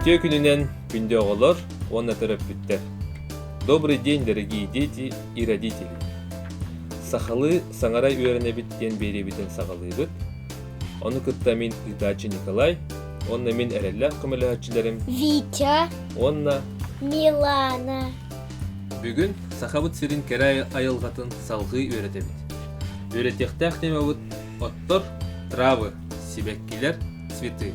Үтүө күнүнэн күндү оҕолор уонна төрөппүттэр. Добрый день, дорогие дети и родители! Сахалыы саҥара үөрэнэбит диэн биэриэбитин саҕалыыбыт. Ону кытта мин ыытааччы Николай, уонна мин эрэллээх көмөлөһөөччүлэрим Витя, уонна Милана. Бүгүн Сахабыт сирин кэрэ айылҕатын салҕыы үөрэтэбит. Үөрэтиэхтээх темабыт «Оттор, травы, сибэккилэр, цветы».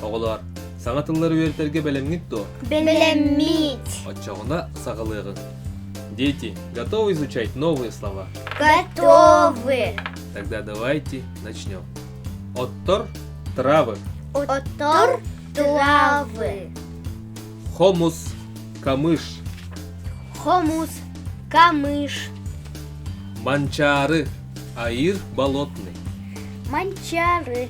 Оҕолоор, саҥа тыллары үөрэтэргэ бэлэмҥит дуо? Бэлэммит. Оччоҕуна саҕалыаҕыҥ. Дети, готовы изучать новые слова? Готовы. Тогда давайте начнем. Оттор травы. Оттор травы. Хомус камыш. Хомус камыш. Манчары. Аир болотный. Манчары.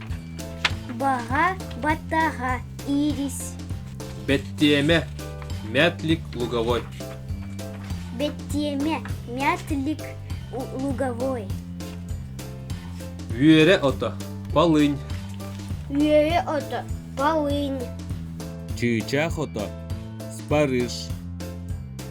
Баҕа баттаҕа ирис. Бэттиэмэ, мятлик луговой. Бэттиэмэ, мятлик луговой. Үөрэ ото, полынь. Үөрэ ото, полынь. Чыычаах ото, спарыш.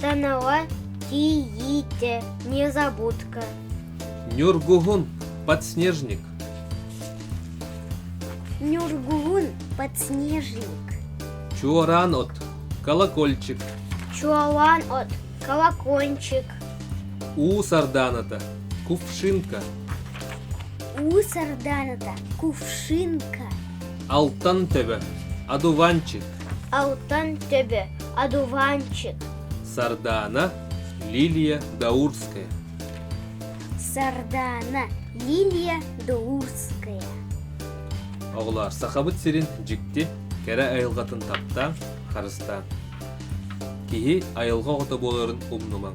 Тоново тиийиитэ незабудка Нюргуһун подснежник Нюргуһун подснежник Чуораан от колокольчик Чуолаан от колокольчик У сарданата кувшинка У сарданата кувшинка Алтан төбө одуванчик Алтан төбө одуванчик сардаана лилия даурская сардаана лилия даурская оҕолоор сахабыт сирин дьикти кэрэ айылҕатын таптаан харыстаан киһи айылҕа оҕото буоларын умнумаҥ